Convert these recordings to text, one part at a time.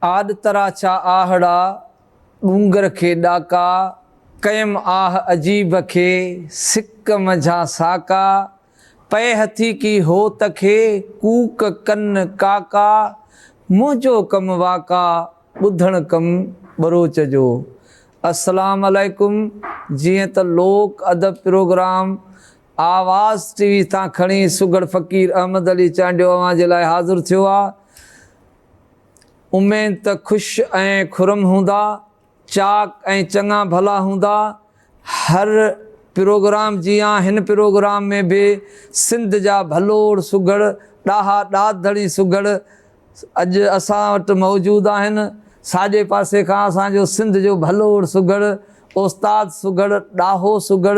آڏ تراڇا آهڙا، ڏونگر کي ڏاڪا. ڪيم آهه عجيب کي، سڪ منجهان ساڪا. پئي هٿي ڪي هو ته کي ڪوڪ ڪن ڪاڪا منهنجو ڪم واڪا ٻڌڻ ڪم ٻروچ جو السلام عليڪم جيئن ته لوڪ ادب پروگرام آواز ٽي وي تان کڻي سگهڙ فقير احمد علي چانڊيو اوهان جي لاء حاضر ٿيو آ اميد ته خوش ۽ خرم هوندا. چاڪ ۽ چڱا ڀلا هوندا. هر پروگرام جيان هن پروگرام ۾ به سنڌ جا ڀلوڙ سگهڙ ڏاها ڏات ڌڻي سگهڙ اڄ اسان وٽ موجود آهن. ساڄي پاسي کان اسان جو سنڌ جو ڀلوڙ سگهڙ استاد سگهڙ ڏاهو سگهڙ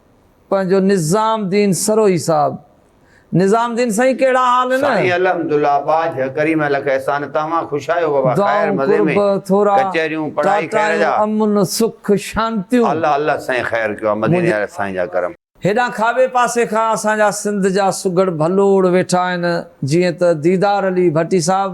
پنهنجو نظام دين سروهي صاحب. نظام دين سائين ڪهڙا حال نه. سائين الحمد الله ٻاجهه ڪريم الک احسان توهان خوش آهيو بابا خير مزي ۾ ڪچهريون پڙهائي خير جا امن سک شانتيون. الله الله سائين خير ڪيو آ مديني واري سائين جا ڪرم. هيڏانهن کاٻي پاسي کان اسان جا سنڌ جا سگهڙ ڀلوڙ ويٺا آهن جيئن ته ديدار علي ڀٽي صاحب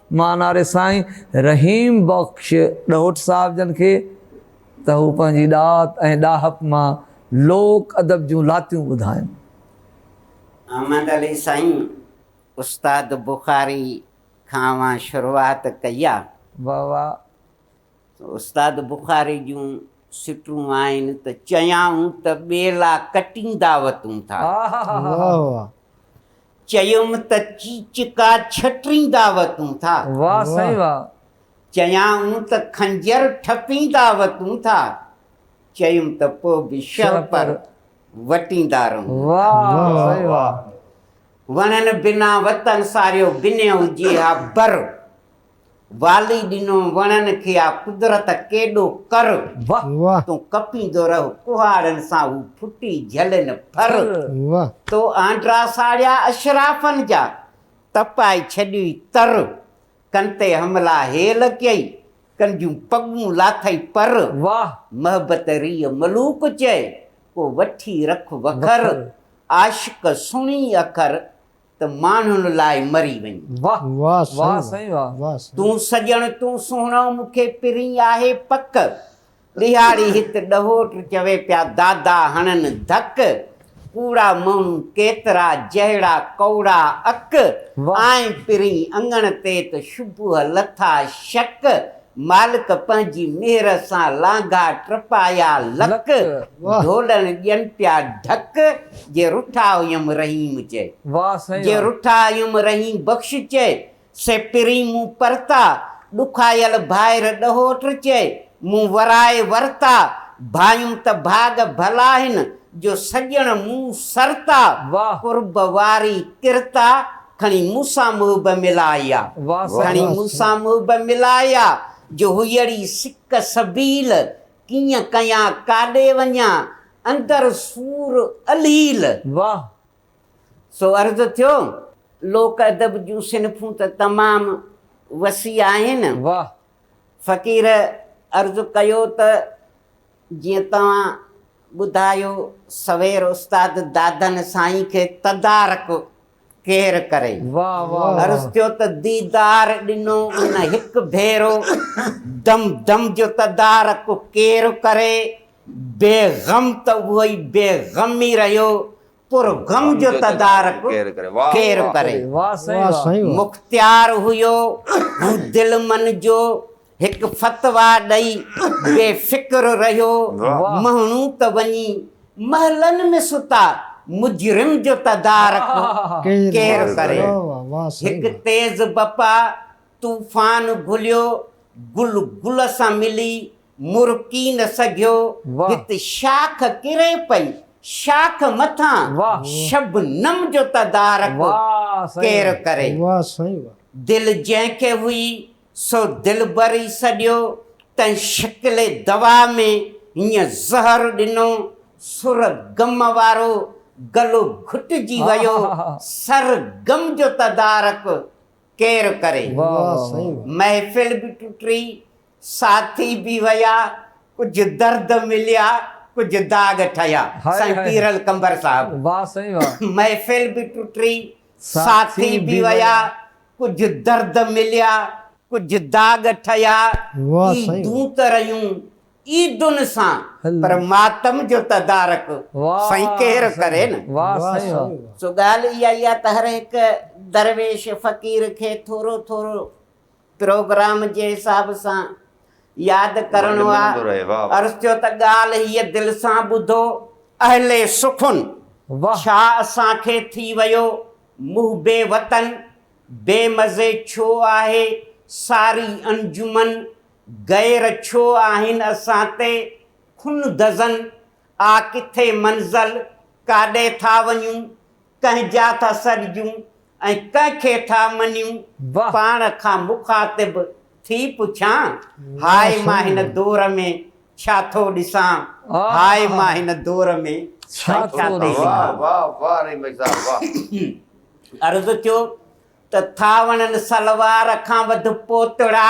مان ناري سائين رحيم بخش ڏهوٽ صاحب جن کي ته هو پنهنجي ڏات ۽ ڏاهپ مان لوڪ ادب جون لاتيون ٻڌائن. احمد علي سائين استاد بخاري کان اوهان شروعات ڪئي آ. واهه واهه. استاد بخاري جون سٽون آهن ته چيائون ته ٻيلا ڪٽيندا وتون ٿا. واهه واهه. چيم ته چيچڪا ڇٽيندا وتون ٿا. واهه سائين واهه. چيائون ته خنجر ٺپيندا وتون ٿا. چيم ته پوء به شهپر وٽيندا رهون ٿا. واهه سائين واهه. وڻن بنا وطن ساريو بنهه هجي ها بر. والي ڏنو وڻن کي آ قدرت ڪيڏو ڪر. واھ تون ڪپيندو رهه ڪهاڙن سان هو ڦٽي جهلين ڦر. تو آنڊرا ساڙيا اشرافن جا تپائي ڇڏيئي تر. ڪن تي حملا هيل ڪيئي ڪن جون پڳون لاٿئي پر. واھ محبت ريء ملوڪ چئي ڪو وٺي رک وکر. عاشق سڻي اکر ته ماڻهن لاء مري وڃ. واھ واھ سائين واھ. تون سڄڻ تون سهڻو مون کي پرين آهي پڪ. ڏيهاڙي هت ڏهوٽ چوي پيا دادا هڻن ڌڪ. ڪوڙا ماڻهو ڪيترا جهڙا ڪؤڙا اڪ. آئين پرين اڱڻ تي ته شبوه لٿا شڪ. مالڪ پنهنجي مهر سان لانگها ٽپايا لڪ، ڍولن ڏين پيا ڍڪ، جي رٺا هيم رحيم چئي، جي رٺا هيم رحيم بخش چئي، سي پرين مون پرتا، ڏکايل ڀائر ڏهوٽ چئي، مون ورائي ورتا، ڀانيم ته ڀاڳ ڀلا هن، جو سڄڻ مون سرتا، قرب واري ڪرتا، کڻي مون سان محب ملا اها. کڻي مون سان محب ملا اها. جو هيئڙي سڪ سبيل، ڪيئن ڪيان ڪاڏي وڃان، اندر سور اليل. سو عرض ٿيو، لوڪ ادب جون صنفون ته تمام وسيع آهن. فقير عرض ڪيو ته جيئن توهان ٻڌايو سوير استاد دادن سائين کي تدارڪ ڪير ڪري. عرض ٿيو ته ديدار ڏنو ان هڪ ڀيرو دم دم جو تدارڪ ڪير ڪري. بي غم ته اهو ئي بي غم ئي رهيو پر غم جو تدارڪ ڪير ڪري. مختيار هيو هو دل من جو هڪ فتويٰ ڏئي بي فڪر رهيو مهڻو ته وڃي محلن ۾ ستا مجرم جو تدارڪ ڪير ڪري هڪ تيز بپا طوفان گهليو گل گل سان ملي مرڪي نه سگهيو هت شاخ ڪري پئي شاخ مٿان شبنم جو تدارڪ ڪير ڪري دل جنهن کي هئي سو دلبر ئي سڏيو، تنهن شڪل دوا ۾ هينء زهر ڏنو، سر غم وارو گلو گهٽجي ويو، سر غم جو تدارڪ ڪير ڪري؟ محفل به ٽٽي، ساٿي به ويا، ڪجهه درد مليا، ڪجهه داغ ٺهيا. سائين پيرل قمبر صاحب محفل به ٽٽي، ساٿي به ويا، ڪجهه درد مليا، ڪجهه داغ ٺهيا، عيدون ته رهيون عيدن سان پر ماتم جو تدارڪ سائين ڪير ڪري نه. سو ڳالهه اها ئي آهي ته هر هڪ درويش فقير کي ٿورو ٿورو پروگرام جي حساب سان ياد ڪرڻو آ عرض ٿيو ته ڳالھ هيء دل سان ٻڌو اهل سخن ڇا اسان کي ٿي ويو محب وطن بي مزي ڇو آهي ساري انجمن غير ڇو آهن اسان تي خون دزن آ ڪٿي منزل ڪاڏي ٿا وڃون ڪنهن جا ٿا سڏجون ۽ ڪنهن کي ٿا مڃيون؟ پاڻ کان مخاطب ٿي پڇان، هاء مان هن دور ۾ ڇا ٿو ڏسان؟ هاء مان هن دور ۾ ڇا ٿو ڏسان؟ عرض ٿيو ته ٿا وڻن سلوار کان وڌ پوتڙا.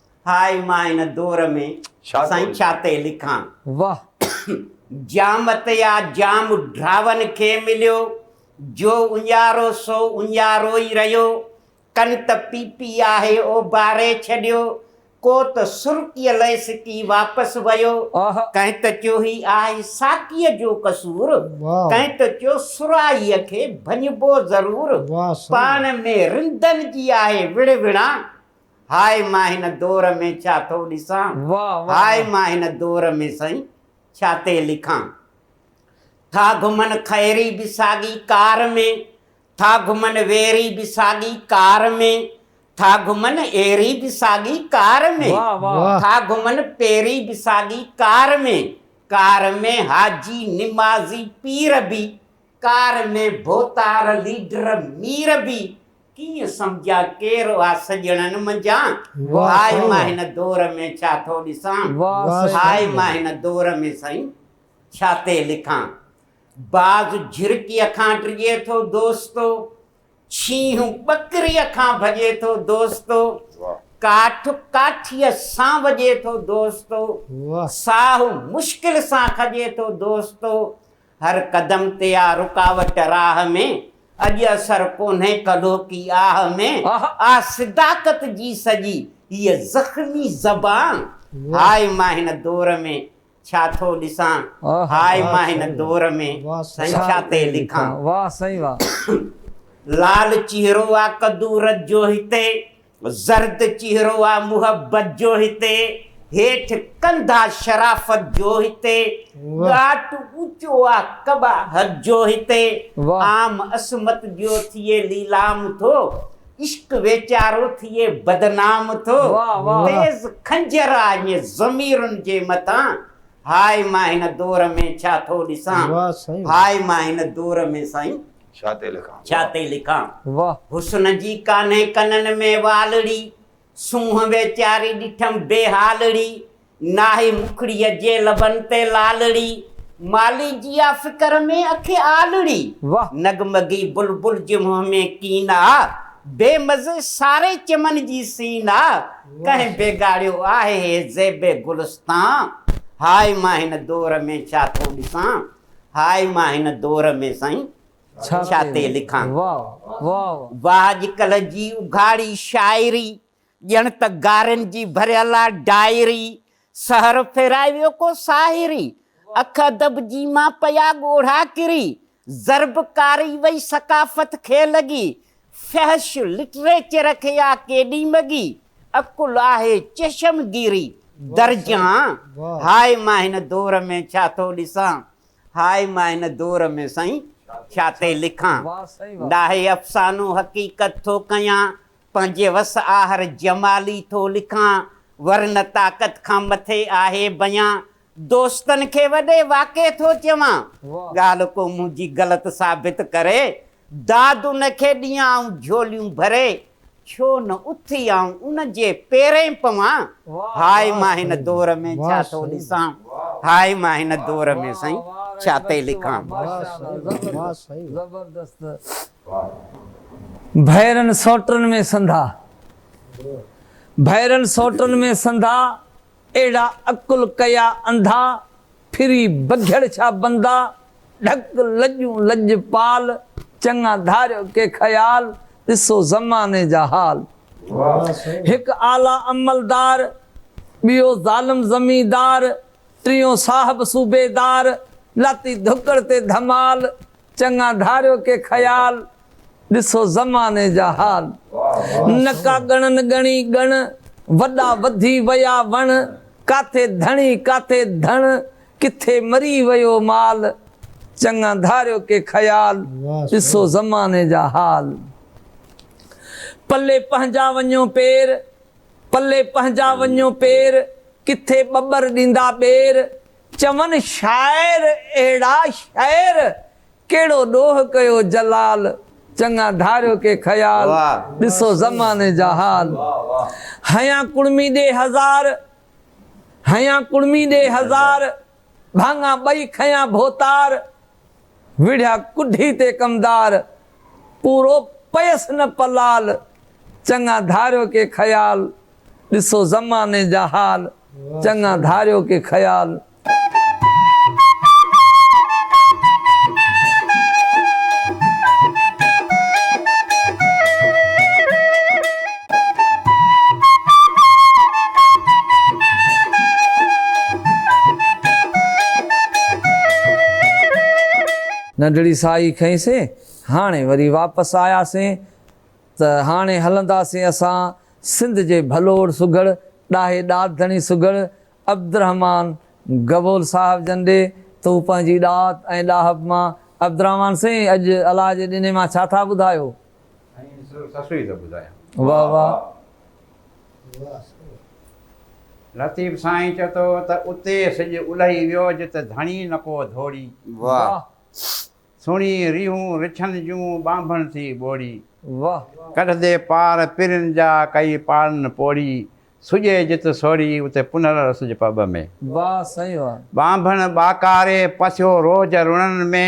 هاء مان هن دور ۾ سائين ڇا تي لکان. واه. جامتيا جام ڊراون کي مليو جو اڃارو سو اڃارو ئي رهيو ڪن ته پيپي آهي اوڀاري ڇڏيو ڪو ته سرڪي لئي سڪي واپس ويو ڪنهن ته چيو هي آهي ساقيء جو قصور ڪنهن ته چيو سرائيء کي ڀڃبو ضرور پاڻ ۾ رندن جي آهي وڙهوڻا هاء مان هن دور ۾ ڇا ٿو ڏسان هاء مان هن دور ۾ سائين ڇا تي لکان ٿا گهمن خيري به ساڳي ڪار ۾ ٿا گهمن ويري به ساڳي ڪار ۾ ٿا گهمن ايري به ساڳي ڪار ۾ ٿا گهمن پيري به ساڳي ڪار ۾ ڪار ۾ حاجي نمازي پير به ڪار ۾ ڀوتار ليڊر مير به ڪيئن سمجهيا ڪير هئا سڄڻن منجهان هاء مان هن دور ۾ ڇا ٿو ڏسان هاء مان هن دور ۾ سائين ڇا تي لکان باز جهرڪيء کان ڊڄي ٿو دوستو شينهن ٻڪريء کان ڀڄي ٿو دوستو ڪاٺ ڪاٺيء سان وڄي ٿو دوستو ساهه مشڪل سان کڄي ٿو دوستو هر قدم تي آ رڪاوٽ راهه ۾، اڄ اثر ڪونهي ڪڍو ڪي آهه ۾، آ صداقت جي سڄي هيء زخمي زبان، هاء مان هن دور ۾ ڇا ٿو ڏسان، هاء مان هن دور ۾ سائين ڇا تي لکان. لال چهرو آ قدورت جو هتي. زرد چهرو آ محبت جو هتي، هيٺ ڪنڌا شرافت جو هتي، ڳاٽ اوچو آ قباحت جو هتي، عام عصمت جو ٿئي ليلام ٿو، عشق ويچارو ٿئي بدنام ٿو، تيز خنجر آ اڃ ضميرن جي مٿان، هاء مان هن دور ۾ ڇا ٿو ڏسان، هاء مان هن دور ۾ سائين ڇا تي لکان. ڇا تي لکان. واه. حسن جي ڪانهي ڪنن ۾ والڙي، سونهن ويچاري ڏٺم بي حالڙي، ناهي مکڙيء جي لبن تي لالڙي، مالي جي آ فڪر ۾ اکي آلڙي، واه. نغمگي بلبل جي منهن ۾ ڪين آ، بي مزي ساري چمن جي سين آ، ڪنهن بيگاڙيو آهي هي زيب گلستان، هاء مان هن دور ۾ ڇا ٿو ڏسان. هاء مان هن دور ۾ سائين ڇا تي لکان. واهه اڄڪلهه جي اگهاڙي شاعري ڄڻ ته گارين جي ڀريل آ ڊائري سحر ڦيرائي ويو ڪو ساحري اک ادب جي مان پيا ڳوڙها ڪري ضرب ڪاري وئي ثقافت کي لڳي فحش لٽريچر کي آ ڪيڏي مڳي عقل آهي چشمگيري درجان هاء مان هن دور ۾ ڇا ٿو ڏسان هاء مان هن دور ۾ سائين ڇا تي لکان ناهي افسانو حقيقت ٿو ڪيان پنهنجي وس آهر جمالي ٿو لکان ورنه طاقت کان مٿي آهي بيان دوستن کي وڏي واڪي ٿو چوان ڳالهه ڪو منهنجي غلط ثابت ڪري داد ان کي ڏيان آئون جهوليون ڀري، ڇو نه اٿي آئون ان جي پيرين پوان، هاء مان هن دور ۾ ڇا ٿو ڏسان، هاء مان هن دور ۾ سائين ڇا تي لکان. ڀيرن سوٽن ۾ سنڌا، ڀيرن سوٽن ۾ سنڌا، اهڙا عقل ڪيا انڌا، ڦري بگهڙ ڇا بندا، ڍڪ لڄون لڄپال، چڱا ڌاريو ڪي خيال، ڏسو زماني جا حال. هڪ اعليٰ عملدار، ٻيو ظالم زميندار، ٽيون صاحب صوبيدار، لاتي ڌڪڙ تي ڌمال، چڱا ڌاريو ڪي خيال، ڏسو زماني جا حال. نڪا ڳڻن ڳڻي ڳڻ، وڏا وڌي ويا وڻ. ڪاٿي ڌڻي ڪاٿي ڌڻ، ڪٿي مري ويو مال. چڱا ڌاريو ڪي خيال، ڏسو زماني جا حال. پلي پنهنجا وڃو پير، پلي پنهنجا وڃو پير، ڪٿي ٻٻر ڏيندا ٻير. چون شاعر اهڙا شعر، ڪهڙو ڏوهه ڪيو جلال، چڱا ڌاريو ڪي خيال، ڏسو زماني جا حال. هنيان ڪڙمي ڏي هزار، هنيان ڪڙمي ڏي هزار، ڀاڱا ٻئي کنيان ڀوتار، وڙهيا ڪڍي تي ڪمدار، پورو پيس نه پلال، چڱا ڌاريو ڪي خيال، ڏسو زماني جا حال، چڱا ڌاريو ڪي خيال. ننڍڙي ساهي کنئيسين، هاڻي وري واپس آياسين ته هاڻي هلنداسين اسان سنڌ جي ڀلوڙ سگهڙ ڏاهي ڏات ڌڻي سگهڙ عبدالرحمان گبول صاحب جن ڏي ته هو پنهنجي ڏات ۽ ڏاهپ مان عبدالرحمان سائين اڄ الاء جي ڏني مان ڇا ٿا ٻڌايو؟ ۽ صرف سسئي ته ٻڌايان. واه واه. لطيف سائين چئو ٿو ته اتي سڄ الهي ويو جت ڌڻي نڪو ڌوڙي. واه. سهڻي ريهون رڇن جون ٻانڀڻ ٿي ٻوڙي. واه. ڪڍندي پار پرين جا ڪئي پاڙن پوڙي. سڄي جت سوڙي اتي پنهل سج پٻ ۾. واه سائين واه. ٻانڀڻ ٻاڪاري پسيو روهج رڻن ۾.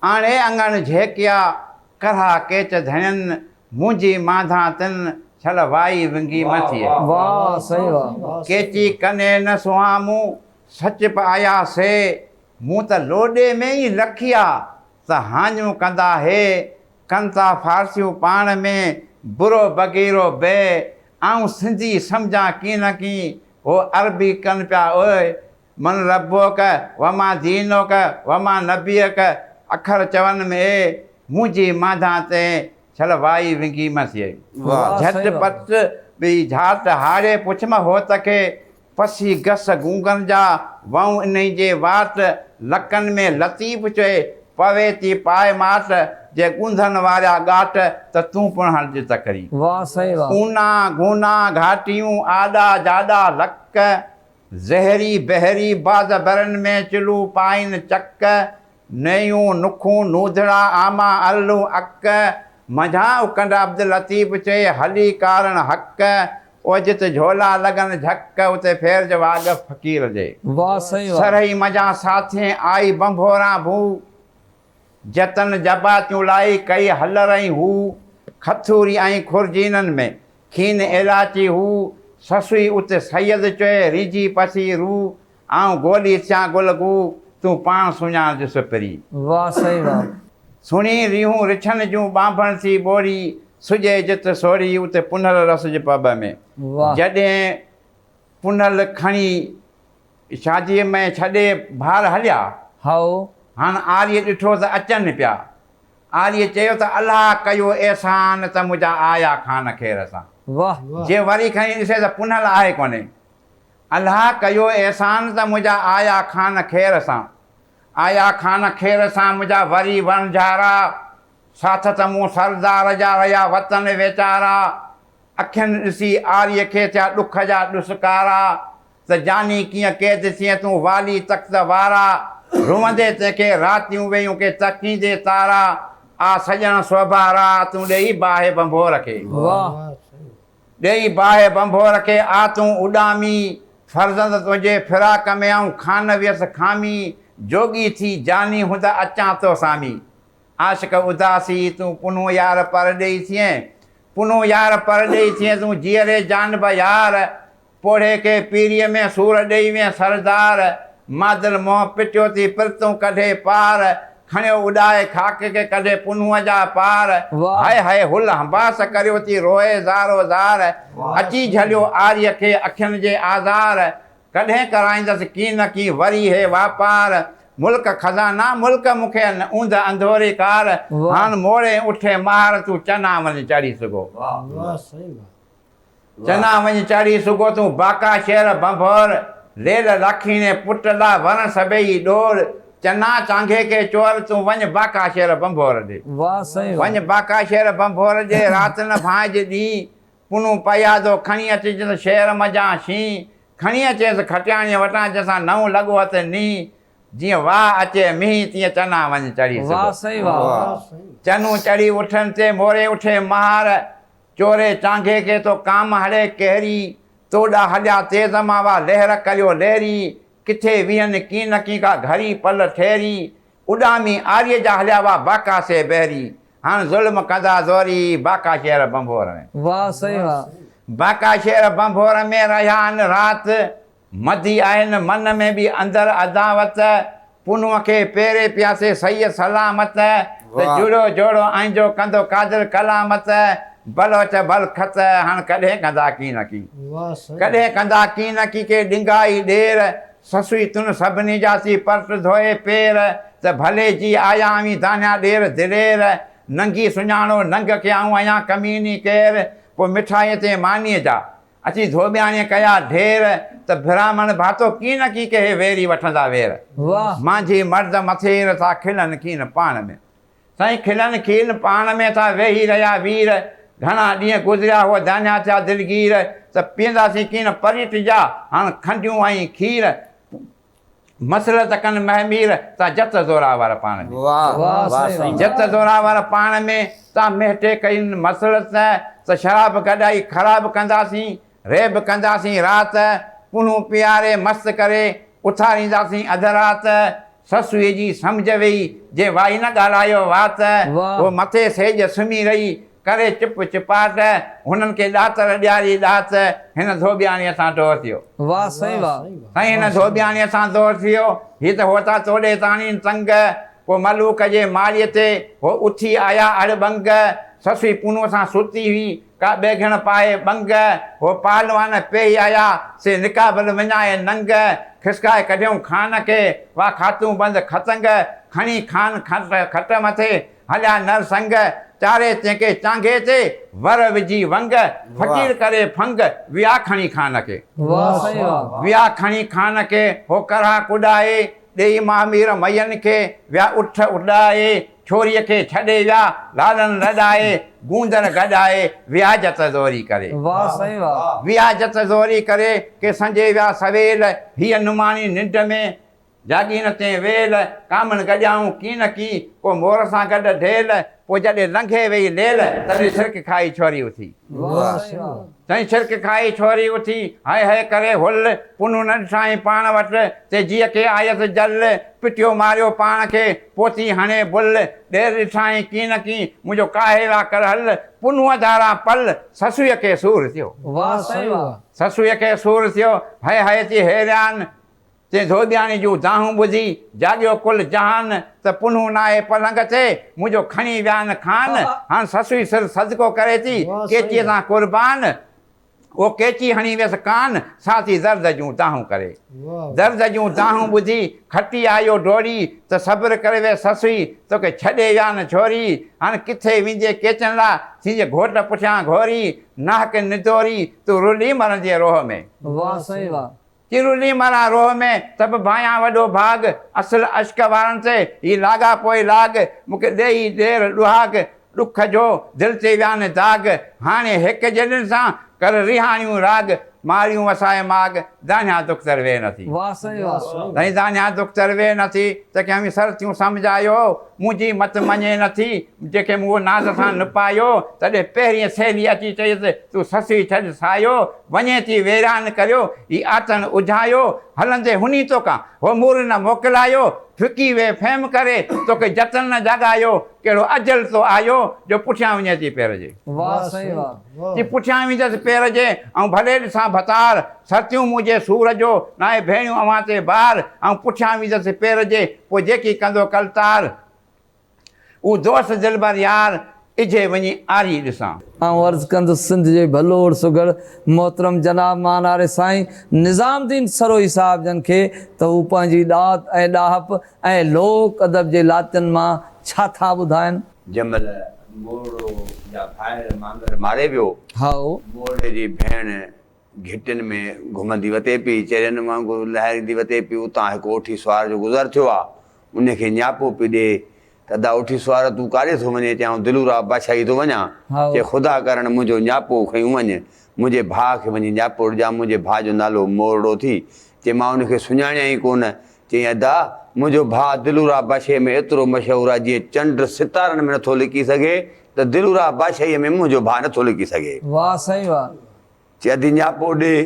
آڻي اڱڻ جهڪيا، ڪرها ڪيچ ڌڻين، مونجهي مانڌان تن، ڇل وائي ونگي مٿيء. واهه سائين واهه. ڪيچي ڪني نه سونهان مون، سچ پ آيا سي، مون ته لوڏي ۾ ئي لکيا، ته هاڃون ڪندا هي، ڪن ٿا فارسيون پاڻ ۾، برو بغيرو بي، آئون سنڌي سمجهان ڪين ڪين، هو عربي ڪن پيا اوء، من ربک وما دينک وما نبيک اکر چون م اي منهنجي مانڌان تين ڇل وائي ونگي م سيئي. جهٽ پٽ ٻي جهاٽ هاڙي پڇ م هوت کي پسي گس گونگن جا وئون انهي جي واٽ لڪن م لطيف چئي پوي تي پائي ماٽ جي ڳونڌن واريا ڳاٽ ته تون پڻ هڻ جي تڪري. اونان گونان گهاٽيون آڏا جاڏا لڪ. زهري بحري باز برن ۾ چلو پائين چڪ، نيون نکون نودڙا آما ارلون اڪ، منجهان اڪنڊا عبداللطيف چئي هلي ڪارڻ حق، او جت جهولا لڳن جهڪ، اتي ڦيرج واقف فقير جي. واه سائين واه. سرهي منجهان ساٿين آئي ڀنڀوران ڀو. جتن جباتيون لائي ڪئي هلر ۽ هو کٿوري ۽ خرجينن ۾ کين ايلاچي هو سسوئي ات سيد چئي ريجي پسي رو آئون گولي ٿيان گل گو تون پاڻ سڃاڻ جس پري. واھ سائين واھ. سھڻي ريھون رڇن جون ٻانڀڻ ٿي ٻوري سجي جت سوري ات پنھل رس جي پٻ ۾. واھ. جڏھن پنھل کڻي. شاديء ۾ ڇڏي ڀار هليا. هائو، هاڻ آريء ڏٺو ته اچن پيا. آريء چيو ته الله ڪيو احسان ته منهنجا آيا خان خير سان. واه. جي وري کڻي ڏسي ته پنهل آهي ڪونهي. الله ڪيو احسان ته منهنجا آيا خان خير سان. آيا خان خير سان منهنجا وري وڻجهارا. ساٿ ته مون سردار جا رهيا وطن ويچارا. اکين ڏسي آريء کي ٿيا ڏک جا ڏسڪارا. ته جاني ڪيئن قيد ٿئين تون والي تخت وارا روئندي تنهن کي راتيون ويئون ڪي تڪيندي تارا آ سڄڻ سوڀارا تون ڏيئي باهه ڀنڀور کي ڏيئي باهه ڀنڀور کي آ تون اڏامي فرزند تنهنجي فراق ۾ آئون خان ويس خامي جوڳي ٿي جاني هوند اچان تو سامي عاشق اداسي تون پنهون يار پرڏيهي ٿئين پنهون يار پرڏيهي ٿئين تون جيئري جان به يار پوڙهي کي پيريء ۾ سور ڏيئي وين سردار، مادل منهن پٽيو ٿي پرتون ڪڍي پار، کڻيو اڏائي خاڪ کي ڪڍي پنهونء جا پار، هائي هائي هل هنباس ڪريو ٿي روئي زارو زار، اچي جهليو آريء کي اکين جي آزار، ڪڏهن ڪرائيندس ڪين نه ڪين وري هي واپار، ملڪ خزانا ملڪ مون کي ان اوندهه انڌوري ڪار، هان موڙين اٺي ماهر تون چنا وڃ چڙهي سگهو. چنا وڃ چاڙهي سگهو تون باڪا شهر ڀنڀور ليل لاکيڻي پٽ لا ورڻ سڀيئي ڏور چنا چانگهي کي چور تون وڃ باڪا شهر ڀنڀور ڏي واه سائين واه. وڃ باڪا شهر ڀنڀور ڏي رات نه ڀانئج ڏينهن پنون پيادو کڻي اچجنس شهر منجهان شينهن کڻي اچيس کٽياڻيء وٽان جنهن سان نئون لڳو اٿ نينهن جيئن واء اچي مينهن تيئن چنا وڃ چڙهي سگهو. واه سائين واه. چنون چڙهي اٺن تي موري اٺي مهار. چوري چانگهي کي ٿو ڪام هڙي ڪهري، تو ڏا هليا تيز ماوا لهر ڪريو لهري، ڪٿي ويهن ڪين نڪين ڪا گهڙي پل ٺهري، اڏامي آريء جا هليا وا باڪا سي بهري، هڻ ظلم ڪندا زوري، باڪا شهر ڀنڀور ۾. واهه سائين واهه. باڪا شهر ڀنڀور ۾ رهيا ان رات. مدي آهن من ۾ به اندر عداوت، پنهونء کي پيري پياسي سهي سلامت، ته واهه. جڙو جوڙو ائين جو ڪندو قادر قلامت، بلوچ ڀل خط هڻ ڪڏهن ڪندا ڪين اڪي. واهه سائين. ڪڏهن ڪندا ڪين اڪي ڪي ڏنگائي ڏير، سسئي تون سڀني جا سي پرٽ ڌوئي پير، ته ڀلي جي آيا اوهين دانيا ڏير دلير، ننگي سڃاڻو ننگ کي آئون آهيان ڪميني ڪير، پوء مٺائيء تي مانيء جا. اچي ڌوٻياڻيء ڪيا ڍير. ته برهمڻ ڀاتو ڪين نه ڪين ڪهي ويري وٺندا وير. مانجهي مرد مٿير ٿا کلن کين پاڻ ۾. سائين کلن کين پاڻ ۾ ٿا ويهي رهيا وير. گهڻا ڏينهن گذريا هو دانهيا ٿيا دلگير. ته پيئنداسين ڪين پري ٽجا هاڻ کنڊيون ۽ کير. مسلط ڪن مهه مير تان جت زوراور پاڻ ۾. واهه واهه سائين. جت زوراور پاڻ ۾، تان مهٽي ڪين مسلط ته شراب گڏائي خراب ڪنداسين، ريب ڪنداسين رات، پنهون پياري مست ڪري، اٿارينداسين اڌ رات، سسئي جي سمجهه ويئي، جي وائي نه ڳالهايو وات، هو مٿي سيڄ سمهي رهي، ڪري چپ چپاٽ، هنن کي ڏاتر ڏياري ڏات، هن ڌوٻياڻيء سان دور ٿيو. واهه سائين واهه. سائين هن ڌوٻياڻيء سان دور ٿيو، هي ته هوتا توڏي تاڻين تنگ، پوء ملوڪ جي ماڙيء تي هو اٿي آيا اڙ ٻنگ، سسئي پونو سان ستي هئي، ڪا ٻيگهڻ پائي ٻنگ، هو پهلوان پيهي آيا، سي نقابل وڃائي ننگ، کسڪائي ڪڍيئون خان کي، واهه کاتون بند ختنگ، کڻي خان کٽ مٿي، هليا نر سنگ، چاري چيڪي چانگهي تي، ور وجهي ونگ، فقير ڪري ڦنگ، ويا کڻي خان کي. واهه سائين واهه. ويا کڻي خان کي، هو ڪرها ڪڏائي، ڏيئي مامير مئين کي، ويا اٺ اڏائي، ڇوريء کي ڇڏي ويا، لالن لڏائي، گوندر گڏائي، ويا جت زوري ڪري. واهه سائين واهه. ويا جت زوري ڪري، ڪي سنجهي ويا سويل، هيء نماڻي ننڊ ۾، جاڳي نه ٿئين ويل، ڪامڻ گڏيائون ڪين نه ڪين، ڪو مور سان گڏ ڍيل، پوء جڏهن لنگهي ويئي ليل، تڏهن ڇرڪ کائي ڇوري اٿي. سائين ڇرڪ کائي ڇوري اٿي، هئي هئي ڪري هل، پنهون نه ڏٺائين پاڻ وٽ، تي جيء کي آيس جل، پٽيو ماريو پاڻ کي، پوء ٿي هڻي بل، ڏير ڏٺائين ڪين نه ڪين، منهنجو ڪاهيل آ ڪرهل، پنهون ڌاران پل، سسئيء کي سور ٿيو. سسئيء کي سور ٿيو، هئي هئي ٿي هيريان. تنهن ڌوٻياڻي جون دانهون ٻڌي، جاڳيو ڪل جهان، ته پنهون ناهي پلنگ تي، منهنجو کڻي ويان کان، هاڻ سسئي سر صدقو ڪري ٿي، قيچيء تان قربان، او قيچي هڻي ويس ڪان، سا ٿي درد جون دانهون ڪري. درد جون دانهون ٻڌي، کٽي آيو ڊوڙي، ته صبر ڪري ويس سسئي، توکي ڇڏي ويان ڇوري، هاڻ ڪٿي ويندينء قيچن لا، ٿيندينء گهوٽ پٺيان گهوري، ناهڪ ندوري، تون رلي مرندينء روهه ۾. واهه سائين واهه، چرولي ماران روهه ۾ سڀ ڀانيان وڏو ڀاڳ اصل عشق وارن سي هي لاڳاپو ئي لاڳ مون کي ڏيئي ڏير ڏهاڳ ڏک جو دل تي ويان داڳ هاڻي هڪ جيڏن سان ڪر ريهاڻيون راڳ ماريون وسائي ماڳ دانهيان دختر ويهه نه ٿي. واه سائين واه سائين. سائين دانهيان دختر ويهه نه ٿي ته کي اوهين سرتيون سمجهايو منهنجي مت مڃي نه ٿي جنهن کي مون اهو ناز سان نپايو تڏهن پهرين سهيلي اچي چيس تون سسئي ڇڏ سايو وڃي ٿي ويران ڪريو، هي آٿڻ اجهايو، هلندي هني توکان، هو مور نه موڪلايو، ڦڪي ويهه فهم ڪري، توکي جتن نه جاڳايو، ڪهڙو اجل تو آيو، جو پٺيان وڃي ٿي پير جي. واه سائين واه. جي پٺيان ويندس پير جي، آئون ڀلي ڏسان ڀتار، سرتيون مون جي سور جو، ناهي ڀيڻيون اوهان تي بار، آئون پٺيان ويندس پير جي، پوء جيڪي ڪندو ڪلتار. اهو دوست دلبر يار اجهي وڃي آري ڏسان. آئون عرض ڪندس سنڌ جي ڀلوڙ سگهڙ محترم جناب ماناري سائين نظام الدين سروهي صاحب جن کي ته هو پنهنجي ڏات ۽ ڏاهپ ۽ لوڪ ادب جي لاتين مان ڇا ٿا ٻڌائن. جنهن مهل مورڙو جا ڀائر مانگر ماري ويو. هائو. مورڙي جي ڀيڻ گهٽين ۾ گهمندي وتي پئي، چرين وانگر لهاريندي وتي پئي، اتان هڪ اوٺي سوار جو گذر ٿيو آ، انهي کي نياپو پئي ڏي ته ادا اوٺي سوار تون ڪاڏي ٿو وڃين؟ چيائون دلورا بادشاهي ٿو وڃان، چي خدا ڪرڻ منهنجو نياپو کنيون وڃ، منهنجي ڀاء کي وڃي نياپو ڏجان، منهنجي ڀاء جو نالو مورڙو ٿي، چي مان ان کي سڃاڻيان ئي ڪونه، چيائين ادا منهنجو ڀاء دلورا بادشاهي ۾ ايترو مشهور آ، جيئن چنڊ ستارن ۾ نٿو لڪي سگهي ته دلورا بادشاهي ۾ منهنجو ڀاء نٿو لڪي سگهي. واهه سائين واهه، چي ادي نياپو ڏي.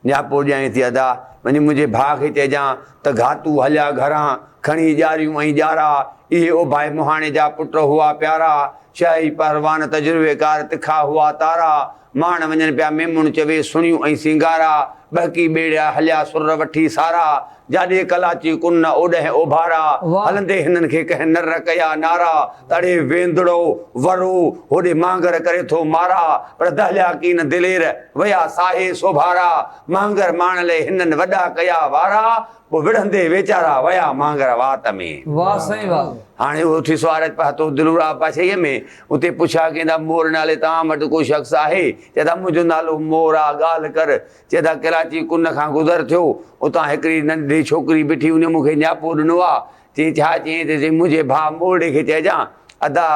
نياپو ڏيانء ٿي ادا، وڃي منهنجي ڀاء کي چئجان ته گهاتو هليا گهران، کڻي ڄاريون ۽ ڄارا. اهي اوڀائي مهاڻي جا پٽ هئا پيارا، شاهي پهلوان تجربيڪار تکا هئا تارا. ماڻ وڃن پيا ميمڻ چوي سڻيون ۽ سينگارا، ٻهڪي ٻيڙيا هليا سر وٺي سارا. جاڏي ڪلاچي ڪن نه اوڏهين اوڀارا، هلندي هنن کي ڪنهن نر ڪيا نارا، تڙي ويندڙو ورو، هوڏي مانگر ڪري ٿو مارا، پر دهليا ڪين دلير، ويا ساهي سوڀارا، مانگر ماڻ لئي هنن وڏا ڪيا وارا، پوء وڙهندي ويچارا، ويا مانگر وات ۾. واهه سائين واهه. هاڻي اهو ٿي سوارچ پهتو دلورا پاڇهيء ۾، اتي پڇا ڪيندا مور نالي توهان وٽ ڪو شخص آهي؟ چئي ٿا منهنجو نالو مور آ، ڳالهه ڪر، چئه ٿا ڪراچي ڪن کان گذر ٿيو، اتان هڪڙي ننڍڙي ڇوڪري بيٺي هئي، هن مون کي نياپو ڏنو آ، چيائين ڇا؟ چيائين ته چيائين منهنجي ڀاء مورڙي کي چئجان ادا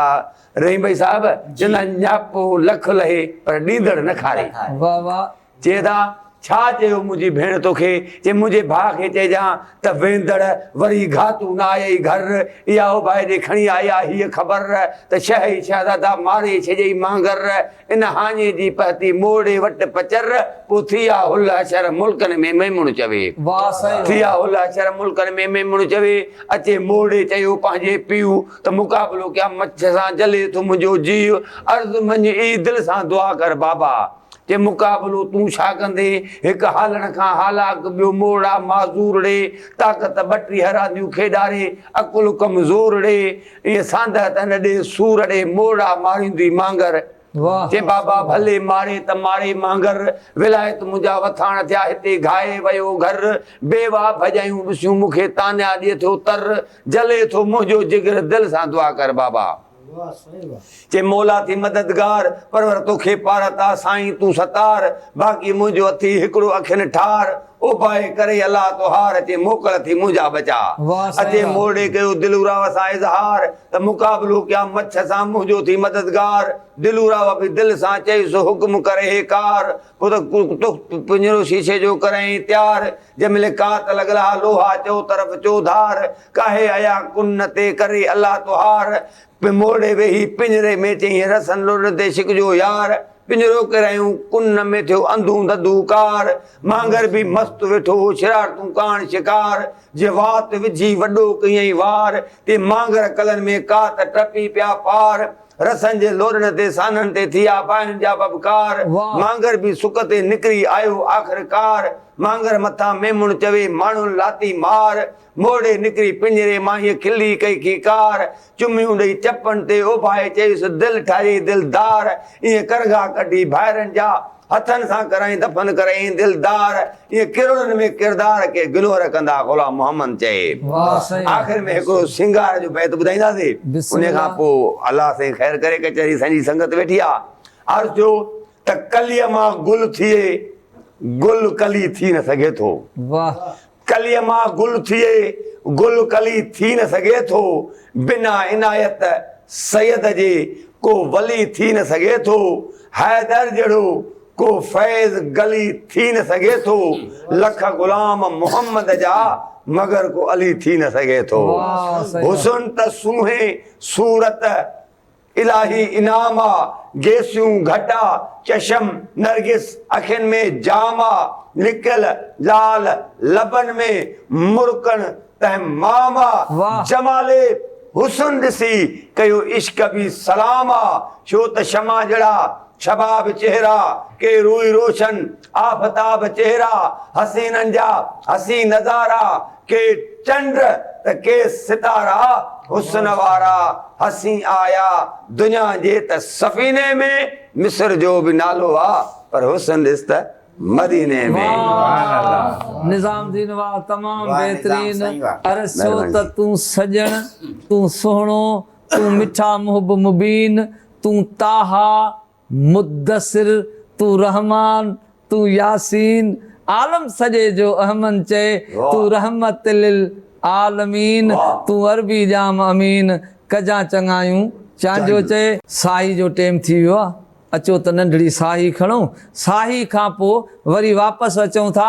رحيم ڀائي صاحب چئندا نياپو لک لهي پر ڏيندڙ نه کاري. چئه ٿا ڇا چيو منهنجي ڀيڻ توکي؟ چيائين منهنجي ڀاء کي چئجان ته ويندڙ وري گهاتو نه آيئي گهر، اها اوڀائي ڏي کڻي آئي آ هيء خبر ته شهه ئي شهزادا ماري ڇڏيئي مانگر، ان هاڃي جي پهتي موڙي وٽ پچر ڪو ٿيا هل حشر ملڪن ۾ ميمڻ چوي. واهه سائين واهه. ٿيا هل حشر ملڪن ۾ ميمڻ چوي. اچي موڙي چيو پنهنجي پيء ته مقابلو ڪيان مڇ سان جلي ٿو منهنجو جيء عرض مڃ اي دل سان دعا ڪر بابا چي مقابلو تون ڇا ڪندين هڪ هالڻ کان هالاڪ ٻيو موڙا معذور ڙي طاقت ٻٽيهه رانديون کيڏاري عقل ڪمزور ڙي ايئن سانده ته نه ڏي سور ڙي مورڙا ماريندي مانگر چي بابا ڀلي ماري ته ماري مانگر ولايت منهنجا وٿاڻ ٿيا هتي گهائي ويو گهر بيوا ڀڄايون ڏسيون مون کي تانيا ڏي ٿو تر جلي ٿو منهنجو جگر دل سان دعا ڪر بابا. چي مولا ٿي مددگار، پرور توکي پار عطا سائين تون ستار، باقي منهنجو اٿئي هڪڙو اکين ٺار، او باهه ڪري الله توهار، چي موڪل ٿي منهنجا بچاء. اچي مورڙي ڪيو دلوراء سان اظهار، ته مقابلو ڪيان مڇ سان منهنجو ٿي مددگار، دلوراء به دل سان چيس حڪم ڪر هي ڪار، تخت پڃرو شيشي جو ڪرئين تيار، جنهن ملي ڪات لڳل ها لوها چؤطرف چوڌار، ڪاهي ايا ڪن تي ڪري الله توهار، پي موڙي ويهي پڃري ۾ چيائين رسن لڙ تي شڪ جو يار، پڃرو ڪيرايون ڪن نه ۾ ٿيو انڌون ڌڌو ڪار، مانگر به مست ويٺو هو شرارتون ڪاڻ شڪار، جي وات وجهي وڏو ڪيئين وار، تي مانگر ڪلن ۾ ڪات ٽپي پيا پار، رسن جي لوڏن تي سانحن تي ٿيا باهين جا ٻٻڪار، مانگر به سڪ تي نڪري آيو آخر ڪار، مانگر مٿان ميمڻ چوي ماڻهن لاتي مار، موڙي نڪري پڃري مان هيء کلي ڪئي کيڪار، چميون ڏئي چپن تي اوڀائي چيس دل ٺاهي دلدار، ائين ڪرگها ڪڍي ڀائرن جا، هٿن سان ڪرائين دفن ڪرئين دلدار، ائين ڪرڙن ۾ ڪردار ڪي گنوهر ڪندا غلام محمد چئي. آخر ۾ هڪڙو سينگار جو بيت ٻڌائينداسي انهي کان پوء الله سائين خير ڪري ڪچهري سائين جي سنگت ويٺي آهي عرض ٿيو ته ڪليء مان گل ٿئي گل ڪلي ٿي نه سگهي ٿو. ڪليء مان گل ٿئي، گل ڪلي ٿي نه سگهي ٿو، بنا عنايت سيد جي ڪو ولي ٿي نه سگهي ٿو، حيدر جهڙو ڪو فيض گلي ٿي نه سگهي ٿو، لک غلام محمد جا مگر ڪو علي ٿي نه سگهي ٿو. حسن ته سونهين صورت. الاهي انعام آ، گيسيون، گهٽا، چشم، نرگس، اکين ۾ جام آ، لڪل، لال، لبن ۾، مرڪڻ، تنهن مام آ، واهه! جمال حسن ڏسي، ڪيو عشق به سلام آ، ڇو ته شمع جڙا، شباب چهرا، ڪي روئي روشن، آفتاب چهرا، حسينن جا، حسين نظارا، ڪي چنڊ ته ڪي ستارا حسن وارا حسين آيا دنيا جي ته سفيني ۾، مصر جو به نالو آ پر حسن ڏس ته مديني ۾. واھ نظام الدين واھ تمام بهترين عرض ڇو ته تون سڄڻ تون سهڻو تون مٺا محب مبين تون طٰه مدثر، تون رحمان، تون ياسين، عالم سڄي جو اهمن چئي، تون رحمت للعالمين، تون عربي ڄام امين، ڪجان چڱايون چانجو چئي. ساهي جو ٽيم ٿي ويو آهي، اچو ته ننڍڙي ساهي کڻون، ساهي کان پوء وري واپس اچون ٿا،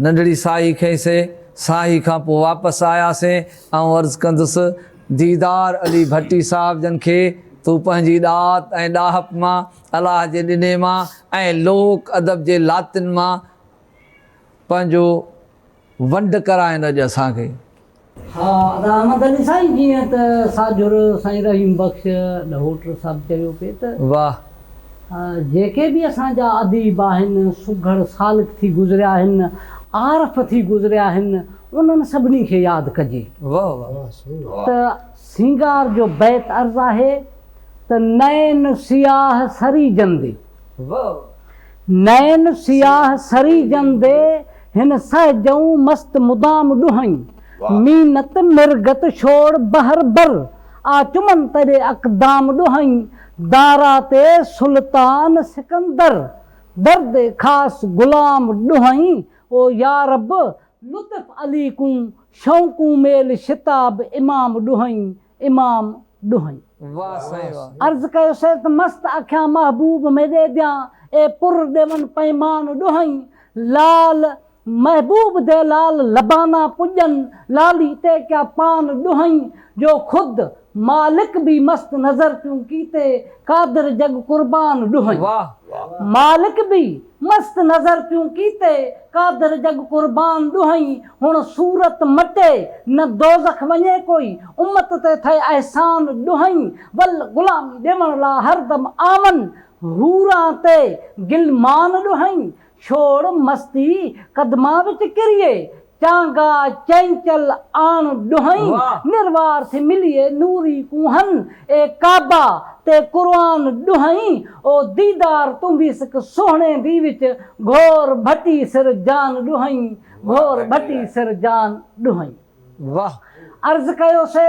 ننڍڙي ساهي کنئي سي. ساهي کان پوء واپس آياسين. آئون عرض ڪندس، ديدار علي ڀٽي صاحب جن کي تون پنهنجي ڏات ۽ ڏاهپ مان، الهه جي ڏني مان ۽ لوڪ ادب جي لاتين مان پنهنجو ونڊ ڪرائين اڄ اسان کي. ها ادا احمد علي سائين جيئن ته ساجھر سائين رحيم بخش ڏهوٽر صاحب چيو پئي ته واه. جيڪي به اسان جا اديب آهن سگھڙ سالڪ ٿي گذريا آهن عارف ٿي گذريا آهن انهن سڀني کي ياد ڪجي. واه واه. ته سينگار جو بيت عرض آهي ته نئن سياه سري جندي. واه واه. نئن سياه سري جندي هن سهه جئون مست مدام ڏونهين. مينت مرگت شوڙ بحر بر آ چمن تري اقدام ڏونهين. دارا تي سلطان سڪندر درد خاص غلام ڏونهين. او يارب لطف علي ڪون شئون ڪون ميل شتاب امام ڏونهين. امام ڏوهن واه سائين واه. عرض ڪيو سيد ته مست اکيان محبوب ۾ ڏي ديان اي پر ڏيون پيمان ڏوهين لال محبوب دي لال لبانا پڄن لالي تي ڪيا پان ڏوهين جو خود مالڪ بي مست نظر تون ڪيتي قادر جڳ قربان ڏوهين واه واه. مالڪ بي مست نظر تون ڪيتي، قادر جڳ قربان ڏوهين، هڻ صورت مٽي، نه دوزخ وڃي ڪوئي، امت تي ٿئي احسان ڏوهين، ول غلامي ڏيوڻ لا هردم آون، حوران تي غلمان ڏوهين، ڇوڙ مستي قدمان وچ ڪريي، چانگا چينچل آڻ ڏوهين، نروار ٿي مليئي نوري ڪونهن، اي ڪعبه تي قرآن ڏوهين، او ديدار تون به سڪ سهڻي دي وچ، گهور ڀٽي سر جان ڏوهين، گهور ڀٽي سر جان ڏوهين. عرض ڪيو سي.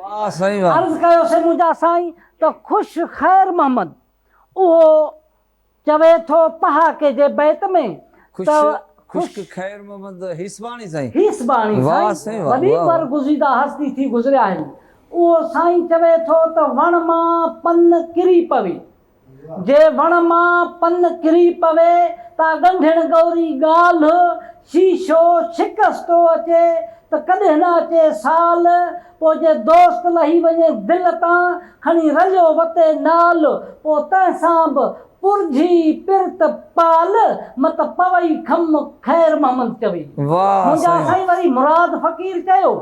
واه سائين واه. عرض ڪيو سي منهنجا سائين ته خوش خير محمد اهو چوي ٿو پهاڪي جي بيت ۾ ته خوش خوش خير محمد هيسباڻي سائين. هيسباڻي واه سائين سائين واه وڏي واه واه. برگزيده هستي ٿي گذريا آهن اهو سائين چوي ٿو ته وڻ مان پن ڪري پوي جي وڻ مان پن ڪري پوي، تا ڳنڍيڻ ڳوري ڳالهه، شيشو شڪستو اچي، ته ڪڏهن نه اچي سال، پوء جي دوست لهي وڃي دل تان، کڻي رليو وتي نال، پوء تنهن سان به پرجهي پرت پال، مت پوئي خم، خير محمد چوي. منهنجا سائين وري مراد فقير چيو.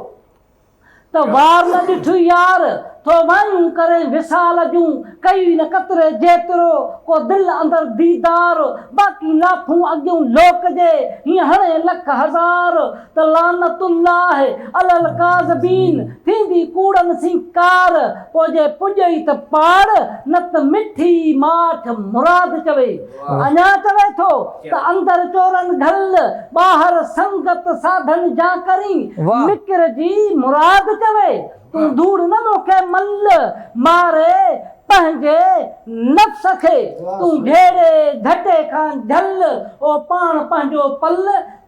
ته وار نه ڏٺئي يار، ٿو وائون ڪرين وصال جون، ڪيئي نه قطري جيترو، ڪو دل اندر ديدار، باقي لاٿون اڳيون لوڪ جي، هيئن هڻين لک هزار، ته لعنت الله علي الڪاذبين، ٿيندي ڪوڙن سين ڪار، پوء جي پڄئي ته پاڙ، نت مٺي ماٺ مراد چوي. اڃا چوي ٿو ته اندر چورن گهل، ٻاهر سنگت ساڌن جا ڪرين. مڪر جي مراد چوي، تون ڌوڙ نه موکي مل، ماري پنهنجي نفس کي. تون گهيڙي گهٽي کان جهل، او پاڻ پنهنجو پل،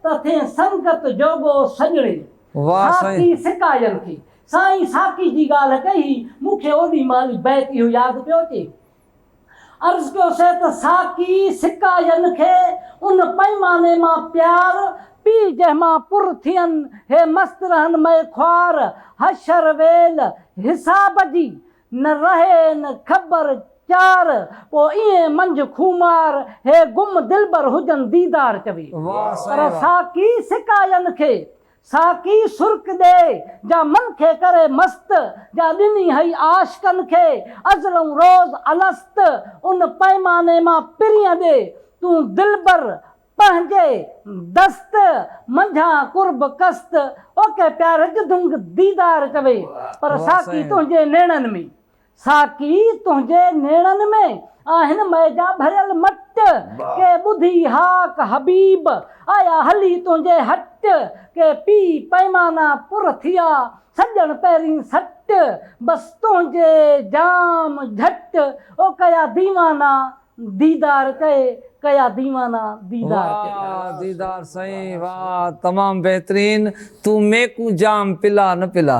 ته ٿين سنگت جوڳو سڄڻي. ساقي سقاين کي سائين ساقي جي ڳالهه ڪئي هئي، مون کي اوڏي مهل بيت اهو ياد پيو اچي، عرض ڪيو سي ته ساقي سڪا ين کي ان پئيماني مان پيار، پي جنهن مان پر ٿين هي مست رهن مئي خوار، حشر ويل حساب جي، نه رهين خبر چار، پوء ائين منجهه خومار، هي گم دلبر هجن ديدار چوي. پر ساقي سڪا ين کي ساقي سرڪ ڏي، جا من کي ڪري مست، جا ڏني هئي عاشقن کي، ازلئون روز الست، ان پئماني مان پرينء ڏي، تون دلبر پنهنجي دست، منجهان قرب قسط، اوکي پيارج دنگ ديدار ڪوي، پر ساقي تنهنجي نيڻن ۾، ساقي تنهنجي نيڻن ۾ آهن مئي جا ڀريل مٽ ڪي ٻڌي هاڪ حبيب آيا هلي تنهنجي هٽ ڪي پي پئمانا پر ٿيا سڄڻ پهرين سٽ بس تنهنجي جام جهٽ او ڪيا ديوانا ديدار ڪي ڪيا ديوانا ديدار ڪي. واه ديدار سائين واه تمام بهترين تون ميڪون جام پلا نه پلا.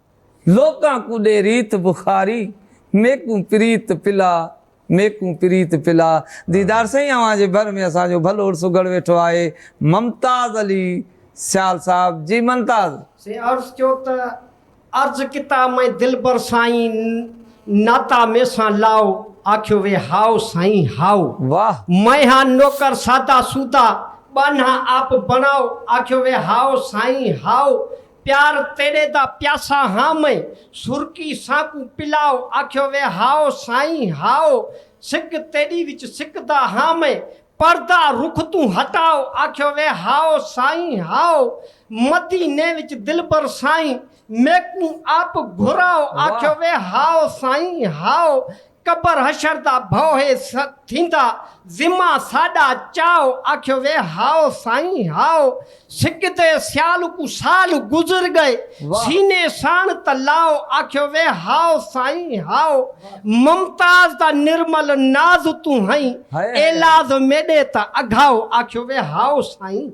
لوڪان ڪو ڏي ريت بخاري، ميڪون پريت پلا، ميڪون پريت پلا. ديدار سائين اوهان جي ڀر ۾ اسان جو ڀلو عرس اگهڙ ويٺو آهي ممتاز علي سيال صاحب جي منتاز. سين عرس چيو ته عرض ڪتا مئين دلبر سائين ناتا مين سان لاؤ آکيو وي هائو سائين هائو واھ. مئين ها نوڪر سادا سودا ٻانها آپ بڻائو آکيو وي هائو سائين هائو پيار تيڏي دا پياسا هان مئي سرڪي سانڪون پلاؤ آکيو وي هائو سائين هائو سڪ تيڏي وچ سڪ دا هان مئي پردا رخ تون هٽائو آکيو وي هائو سائين هائو مدي ني وچ دلبر سائين ميڪون آپ گهرائو آکيو وي هائو سائين هائو ڪپر حشر دا ڀوهي ٿيندا، ذمه ساڏا چاء، آکيو وي هائو سائين هائو، سڪدي سيال ڪو سال گذر ڳئي، سيني ساڻ ته لاء، آکيو وي هائو سائين هائو، ممتاز دا نرمل ناز تون هئين، ايلاز ميڏي ته اگهائو، آکيو وي هائو سائين.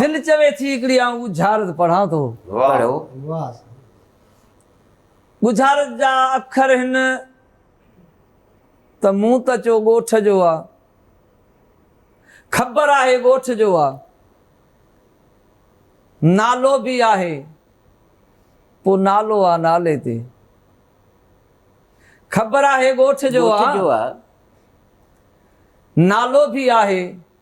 دل چوي ٿي هڪڙي آئون ڳجهارت پڙهان ٿو. پڙهو. ڳجهارت جا اکر هن ته مون ته چو ڳوٺ جو آ. خبر آهي ڳوٺ جو آ. نالو به آهي. پو نالو آ نالي تي. خبر آهي ڳوٺ جو آ. نالو به آهي.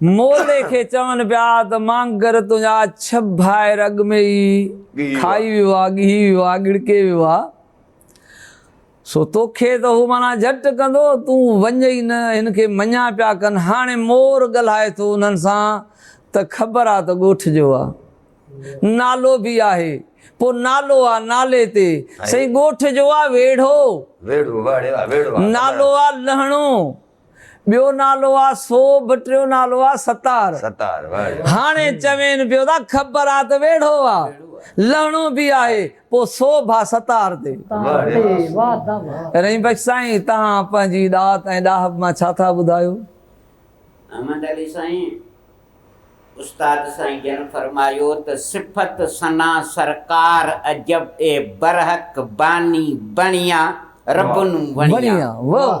مولي کي چون پيا ته مانگر تنهنجا ڇهه ڀائر اڳ ۾ ئي کائي ويو آ، ڳهي ويو آ، ڳڙڪي ويو آ، سو توکي ته هو معنيٰ جهٽ ڪندو، تون وڃ ئي نه، هن کي مڃان پيا ڪن، هاڻي مور ڳلهائي ٿو انهن سان ته خبر آ ته ڳوٺ جو آ، نالو به آهي، پوء نالو آ، نالي تي، سائين ڳوٺ جو آ ويڙهو، نالو آ لهڻو، ٻيو نالو آ سوڀ ٽيون نالو آ ستار ستار واهه هاڻي چوين پيو ته خبر آ ته ويڙهو آ لهڻو به آهي پو سوڀ آ ستار تي رحيم بخش سائين توهان پنهنجي ڏات ۽ ڏاهپ مان ڇا ٿا ٻڌايو. احمد علي سائين استاد سائين جن فرمايو ته صفت ثنا سرڪار عجب اي برحق باني بڻيا رب نون وڻيا وڻيا واهه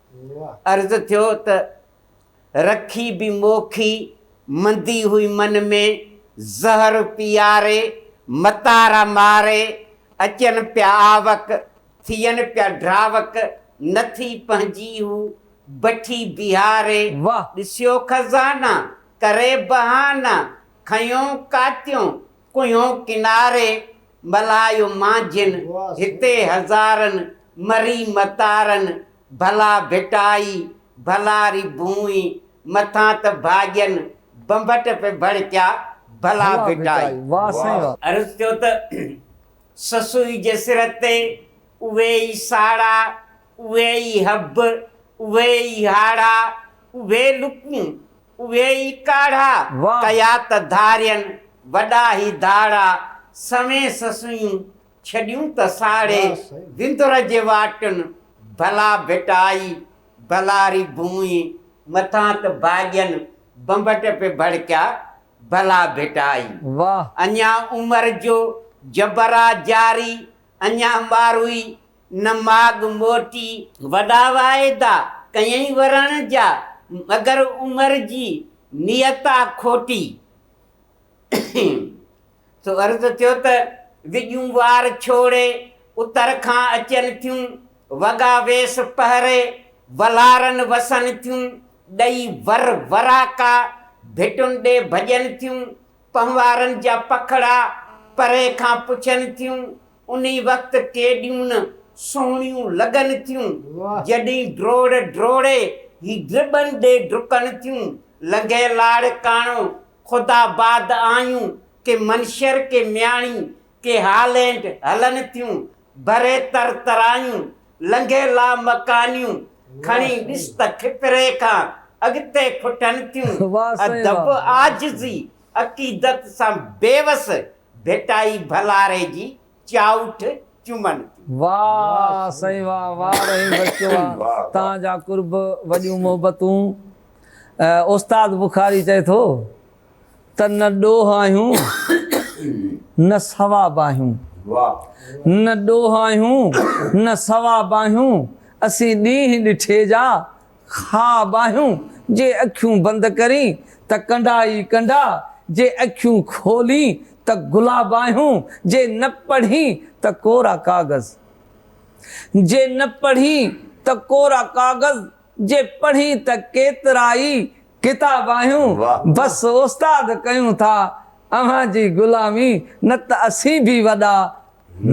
عرض ٿيو ته رکي به موکي مندي هئي من ۾، زهر پياري متارا ماري، اچن پيا آوڪ، ٿين پيا ڊراوڪ، نه ٿي پنهنجي هو بٺي بيهاري، ڏسيو خزانا ڪري بهانا، کنيو ڪاتيون ڪنهن ڪناري ملهايو مان جن، هتي هزارن مري متارن، ڀلا ڀٽائي ڀلا ري ڀونئي، مٿان ته ڀاڄين بنڀٽ پئي ڀڙڪيا، ڀلا ڀٽائي. عرض ٿيو ته سسئي جي سر تي اهي ئي ساڙا، اهي ئي حب، اهي ئي هاڙا، اهي لڪون، اهي ئي ڪاڙها ڪيا ته ڌارين وڏا هي ڌاڙا سوين سسويون ڇڏيون ته ساڙي وندر جي واٽن ڀلا ڀٽائي ڀلا ري ڀونئي مٿان ته ڀاڄين بنبٽ پي ڀڙڪيا ڀلا ڀٽائي اڃا عمر جو جبر آ جاري اڃا ماروئي نماڳ موٽي وڏا واعدا ڪيئين ورڻ جا، مگر عمر جي نيتا کوٽي. سو عرض ٿيو ته وڄون وار ڇوڙي، اتر کان اچن ٿيون، وڳا ويس پهري، ولارن وسن ٿيون، ڏئي ور وراڪا، ڀٽن ڏي ڀڄن ٿيون، پنهوارن جا پکڙا، پري کان پڇن ٿيون، انهي وقت ڪيڏيون نه سهڻيون لڳن ٿيون، جڏهين ڊوڙ ڊوڙي هي ڊٻن ڏي ڊڪن ٿيون. لنگهي لاڙڪاڻو، خداآباد آيون، ڪي منشر، ڪي مياڻي، ڪي هالينڊ هلن ٿيون. ڀري تر ترايون، لنگهي لامڪانيون، کڻي ڏس ته کپري کان اڳتي ڦٽن ٿيون. ادب عاجزي، عقيدت سان بيوس، ڀٽائي ڀلاري جي چائوٺ چمن ٿي. واه سائين واه واه رحيم بخش واه تان جا قرب وڏيون محبتون استاد بخاري چئي ٿو ته نه ڏوهه آهيون نه ثواب آهيون نه ڏوهه آهيون نه ثواب آهيون اسين ڏينهن ڏٺي جا خواب آهيون جي اکيون بند ڪرين ته ڪنڊا ئي ڪنڊا، جي اکيون کولين ته گلاب آهيون، جي نه پڙهين ته ڪورا ڪاغذ، جي نه پڙهين ته ڪورا ڪاغذ، جي پڙهين ته ڪيترا ئي ڪتاب آهيون، بس استاد ڪيون ٿا اوهان جي غلامي نه ته اسين به وڏا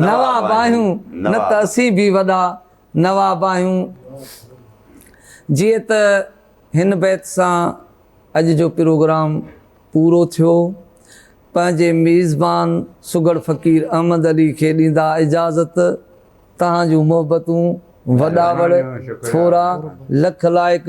نواب آهيون، نه ته اسين به وڏا نواب آهيون. جيئن ته هن بيت سان اڄ جو پروگرام پورو ٿيو. پنهنجي ميزبان سگهڙ فقير احمد علي کي ڏيندا اجازت. توهان جون محبتون وڏاوڙ ٿورا لک لائق.